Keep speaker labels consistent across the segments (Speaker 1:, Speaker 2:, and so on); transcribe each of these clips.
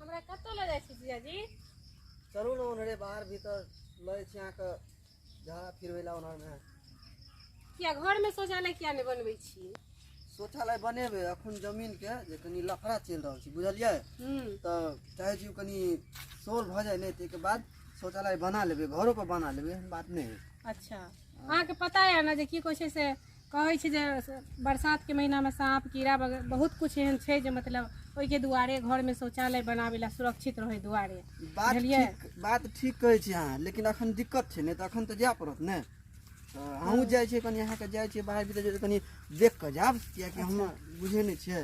Speaker 1: हमरा कतऽ लऽ जाइ छी जीजाजी चलू ने
Speaker 2: ओनहरे बाहर भीतर लै छी अहाँके झाड़ा फिरबै लए ओनहरमे किया
Speaker 1: घरमे शौचालय किया नहि बनबै छी शौचालय
Speaker 2: बनेबै अखन जमीनके जे कनि लफड़ा चलि रहल छै बुझलियै हूँ तऽ चाहै छी कनि सोल भऽ जाए नहि ताहिके बाद शौचालय बना लेबै घरोपर बना लेबै एहन बात नहि हइ अच्छा अहाँके
Speaker 1: पता यऽ ने जे की कहै छै से कहै छै जे बरसातके महिनामे साँप कीड़ा वगैरह बहुत किछु एहन छै जे मतलब ओहिके दुआरे घरमे शौचालय बनाबै लए सुरक्षित रहै दुआरे बात बुझलियै? ठीक
Speaker 2: बात ठीक कहै छी अहाँ लेकिन अखन दिक्कत छै ने तऽ अखन तऽ जाय पड़त ने तऽ हमहूँ जाइ छियै कनि अहाँके जाइ छियै बाहर भीतर जे कनि देख कऽ जायब किएकि हम बुझै नहि छियै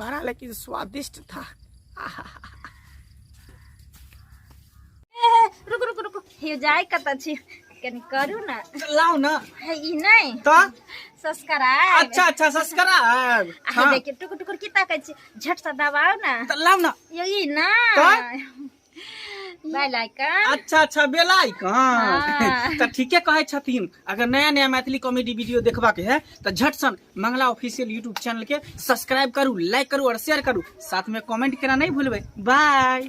Speaker 3: बड़ा लेकिन स्वादिष्ट था
Speaker 4: रुक रुक रुक हे जाय कत छी कनी करू ना लाओ ना हे
Speaker 3: ई नहीं
Speaker 4: तो
Speaker 3: सब्सक्राइब
Speaker 4: अच्छा अच्छा
Speaker 3: सब्सक्राइब आ हे देखिए टुकुर
Speaker 4: टुकुर की ताकै छी झट से दबाओ ना तो लाओ ना यो
Speaker 3: ई ना तो?
Speaker 4: बेल आइकन अच्छा अच्छा बेल
Speaker 3: आइकन हाँ। तो
Speaker 4: ठीके कहे
Speaker 3: छथिन अगर नया नया मैथिली कॉमेडी वीडियो देखबा के है तो झट सन मंगला ऑफिशियल यूट्यूब चैनल के सब्सक्राइब करू लाइक करू और शेयर करू साथ में कमेंट करना नहीं भूलबे बाय